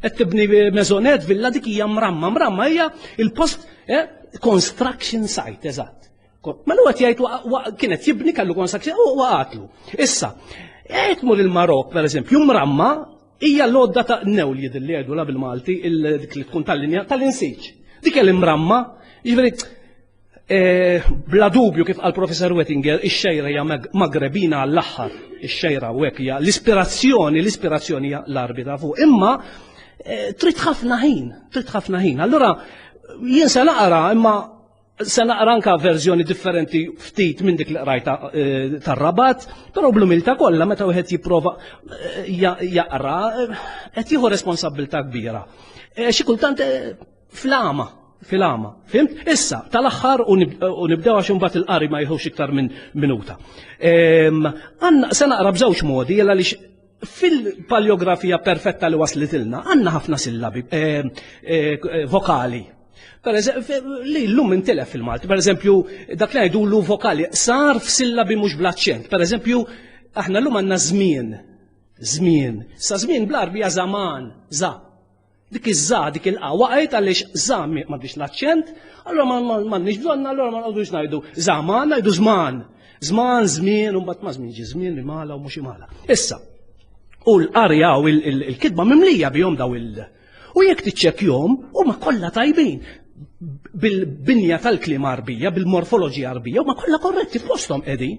Qed tibni mezonet, villa, dik hija mramma. Mramma hija il-post eh, construction site, eżatt. Ma l qed jgħid kienet jibni kallu construction u waqatlu. Issa, qed mur il-Marok, pereżempju, mramma Hija l-għodda ta' new li jidhirli jgħidulha bil-Malti dik li tkun tal-linja tal-insiġ. Dik hija l-imramma, jiġifieri eh, bla dubju kif qal Professor Wettinger, ix-xejra hija Magrebina għall-aħħar. Ix-xejra u hekk hija l-ispirazzjoni, l-ispirazzjoni hija l-arbi ta' fuq. Imma eh, trid ħafna ħin, trid ħafna ħin. Allura jien se naqra imma Se naqra anka verżjoni differenti ftit minn dik li qrajta eh, tar-rabat, però bl-umilta kollha meta wieħed jipprova eh, jaqra eh, qed jieħu responsabilità kbira. Xi kultant flama, filama, fimt? Issa, tal-axħar u nibdew għax imbagħad il-qari ma jħux iktar minn minuta. Ehm, għanna se naqra b'żewġ modi jella li Fil-paljografija perfetta li waslitilna għandna ħafna sillabi eh, eh, eh, vokali. Per li l-lum intilef fil-Malti, per eżempju, dak li għajdu l vokali, sar f'sillabi mhux blaċċent. Per eżempju, aħna l-lum għandna żmien, żmien. Sa żmien bl-arbi zaman, za. Dik iż-ża, dik il-qa waqgħet għaliex ża m'għandix l-aċċent, allura m'għandniex bżonn allura ma nqogħdux ngħidu żaman, ngħidu żman. Żman, żmien, u mbagħad ma żmien ġi żmien li mala u mhux imala. Issa, u l-qarja u l-kitba mimlija bihom daw il- U jekk tiċċekkjom, huma kollha tajbin bil-binja tal-klima arbija, bil-morfoloġija arbija, huma kollha korretti f'posthom qegħdin.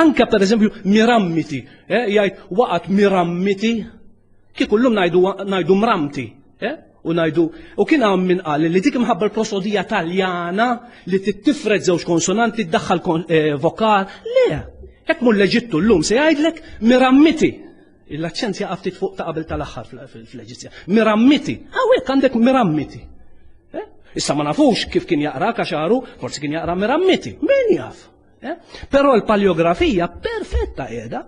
Anka per eżempju mirammiti, eh, jgħid waqgħet mirammiti Kieku llum ngħidu ngħidu mramti, eh? u ngħidu u kien hawn min qal li dik imħabba l-prosodija Taljana li tittifred żewġ konsonanti ddaħħal eh, vokal, le, hekk mur l-Eġittu llum se jgħidlek mirammiti. Il-aċċent jaqaf ftit fuq ta' qabel tal-aħħar fl-Eġizzja. Mirammiti. Hawnhekk għandek mirammiti. Eh? Issa ma nafux kif kien jaqra kaxaru, forsi kien jaqra mirammiti. Min jaf? Eh? Però l-paleografija perfetta qiegħda.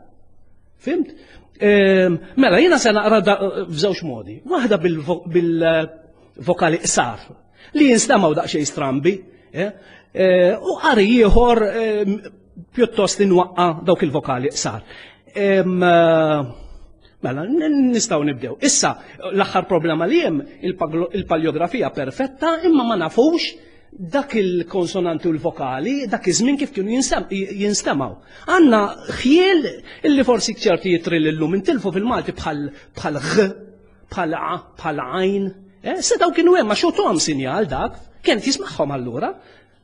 Fimt? Ehm, mela, jiena se naqra f'żewġ modi. Waħda bil-vokali qsar li jinstamaw daqsxejn strambi. Eh? Eh, u qari ieħor ehm, pjuttost inwaqqa dawk il-vokali qsar. Ehm, Mela, nistaw nibdew. Issa, l-axħar problema li jem, il-paleografija perfetta, imma ma nafux dak il-konsonanti u l-vokali, dak iż-żmien kif kienu jinstemaw. Għanna ħjiel illi forsi ċerti jitri l-lum intilfu fil-Malti bħal bħal ħ, bħal a, bħal għajn. Eh, se daw kienu hemm għax sinjal dak, kien tismaħħom allura.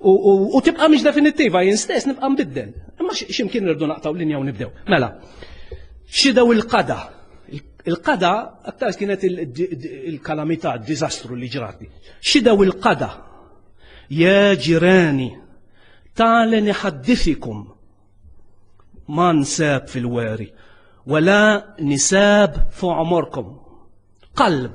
U tibqa' mhix definittiva jien stess nibqa' nbiddel. Imma x'imkien irdu naqtaw linja u nibdew. Mela, xidew il-qada. Il-qada aktar kienet il-kalamità, d-diżastru li ġrati. Xidew il-qada. Ja ġirani, talen iħaddifikum ma nsab fil-weri, wala nisab fuq omorkom. Qalb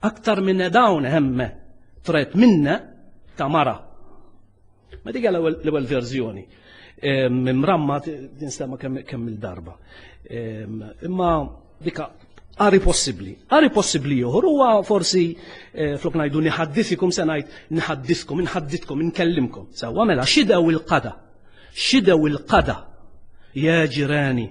Aktar minn dawn hemme tret minne ta' mara. Ma dik l-ewwel verżjoni. Mimramma tinstema kemm il-darba. Imma dika għari possibli. Għari possibli joħor huwa forsi eh, flok ngħidu niħaddisikum se ngħid niħaddiskom, inħadditkom, inkellimkom. Sewwa mela xidew il-qada. Xidew il-qada. Ja ġirani.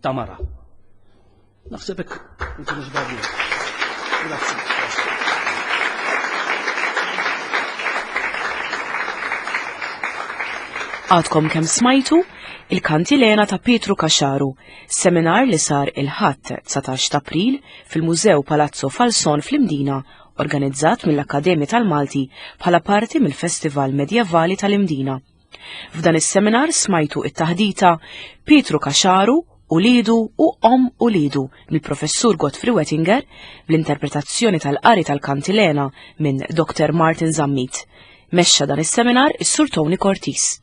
ta' mara. Naħseb hekk inti mhux Grazie. Għadkom kem smajtu il-kantilena ta' Pietru Kaxaru, seminar li sar il-ħadd 19 ta' April fil-Mużew Palazzo Falson fl-Imdina, organizzat mill-Akkademja tal-Malti bħala parti mill-Festival Medjevali tal-Imdina. F'dan is-seminar smajtu it-taħdita Pietru Kaxaru u lidu u om u lidu mill-Professur Godfrey Wettinger bl-interpretazzjoni tal-qari tal-Kantilena minn Dr. Martin Zammit. Mexxa dan is-seminar is-Sur Tony Cortis.